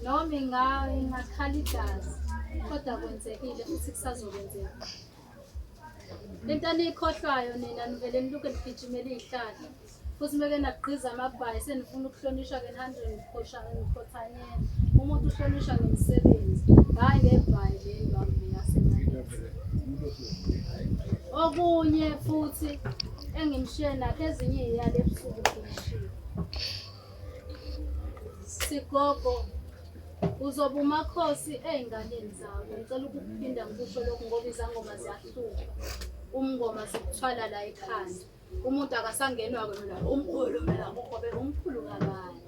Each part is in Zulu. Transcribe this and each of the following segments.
noma ingakhala igazi kodwa kwenzekile futhi kusazokwenzeka lento aniyikhohlwayo nina nivele niluke nigijimela iy'hlahla futhi meke nagqiza amabhayi senifuna ukuhlonishwa ke nihambe nikhothanyela umuntu uhlonishwa ngemisebenzi hhayi ngebhayi le ndwambi yasemalezi okunye futhi engimshiye nakho ezinye iyale ebusuku ngimshiye Sigogo uzoba umakhosi ey'nganeni zakho. Ngicela ukuphinda ngikusho lokhu ngoba izangoma ziyahluka. Umngoma sikuthwala la ekhanda. Umuntu akasangenwa kwena umkhulu mina ngobe umkhulu kabani.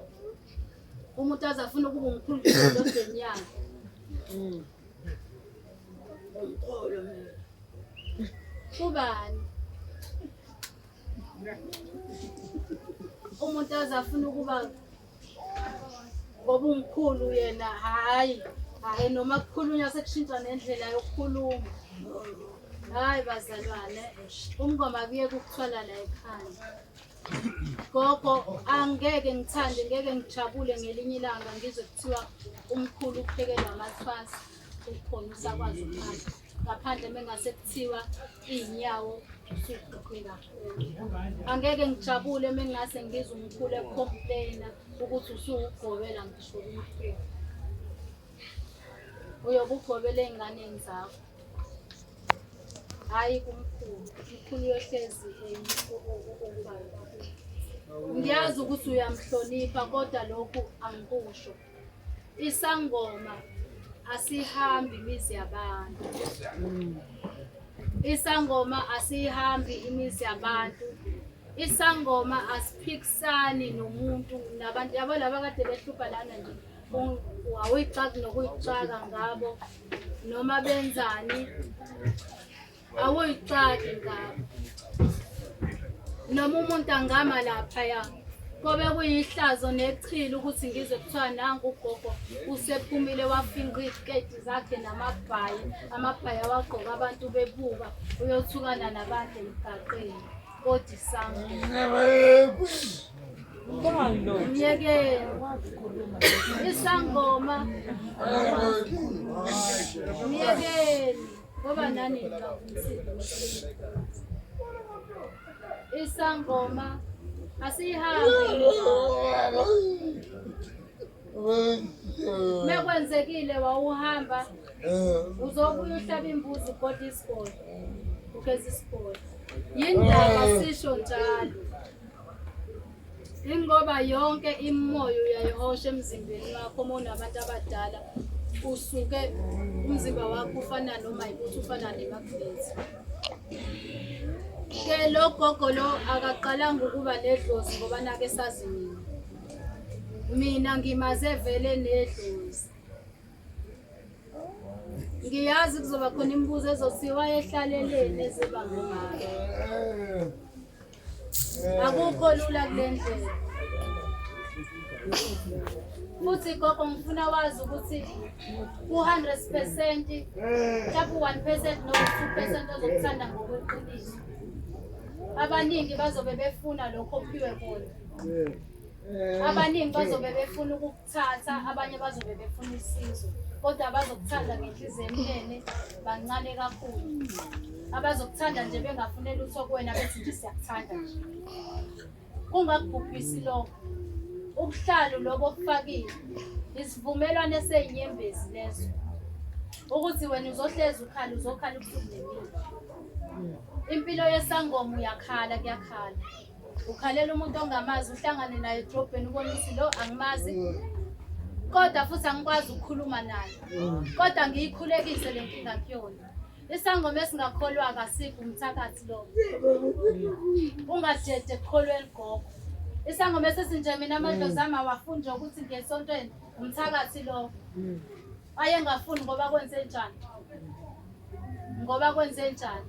Umuntu azafuna ukuba umkhulu endodeni yakhe. Mm. Umkhulu mina. Kubani? umuntu aze afuna ukuba ngoba umkhulu yena hhayi hhayi noma kukhulunywa sekushintsha nendlela yokukhuluma hhayi bazalwane umngoma kuye kukuthwala la ekhanda gogo angeke ngithande ngeke ngijabule ngelinye ilanga ngizwe kuthiwa umkhulu uphekelwa amathwasa ukhona usakwazi ukuphatha ngaphandle mengase kuthiwa iy'nyawo usuqoqe kakhulu angeke ngijabule mengase ngizwe umkhulu ekukhompleyina ukuthi usuwugobela ngisho umkhulu uyobe ugobela ey'nganeni zakho hhayi kumkhulu umkhulu uyohlezi ngiyazi ukuthi uyamhlonipha kodwa lokhu angikusho Isangoma asihambi imizi yabantu. Isangoma asihambi imizi yabantu. Isangoma asiphikisani nomuntu nabantu yabo laba kade behlupha lana nje awuyixaki nokuyixaka ngabo noma benzani awuyixaki ngabo noma umuntu angama laphaya kobe kuyihlazo nechilo ukuthi ngizwe kuthiwa nangu ugogo usephumile wafinqa iziketi zakhe namabhayi amabhayi awagqoka abantu bebuka uyothukana nabantu emgaqeni kodwa isango Yeke isangoma. Yeke. Ngoba nani isangoma asihambe mekwenzekile wawuhamba uzobuya uhlaba imbuzi ugoda isigodi ugeza isigodi yindaba sisho njalo Ingoba yonke imimoya uyayihosha emzimbeni wakho uma unabantu abadala usuke umzimba wakho ufana noma yikuthi ufana nemagnethi. Ke lo gogo lo akaqalanga ukuba nedlozi ngoba nake sazi mina. Mina ngimaze vele nedlozi. Ngiyazi kuzoba khona imibuzo ezothi wayehlaleleni ezibangomama. Akukho lula kule ndlela. Futhi gogo ngifuna wazi ukuthi ku-hundred percent mhlawumbe u-one percent noma two percent ozokuthanda ngokweqiniso. Abaningi bazobe befuna lokho ophiwe kona. Abaningi bazobe befuna uku- thatha abanye bazobe befuna usizo kodwa abazokuthanda ngenhliziyo emnene bancane kakhulu abazokuthanda nje bengafune lutho kuwena bethi nje siyakuthanda nje kungakubhubhisi lokho ubuhlalu lobo obufakile isivumelwano eseyinyembezi leso ukuthi wena uzohlezi ukhala uzokhala ubuhlungu impilo yesangoma uyakhala kuyakhala ukhalela umuntu ongamazi uhlangane naye edrobheni ubona ukuthi lo angimazi kodwa futhi angikwazi ukukhuluma naye kodwa ngiyikhulekise le nkinga kuyona isangoma esingakholwa kasikho umthakathi lo ungajede ekukholweni gogo isangoma esesinje mina amadlozi ami awafunde ukuthi ngesontweni umthakathi lo ayengafuni ngoba kwenze njani ngoba kwenze njani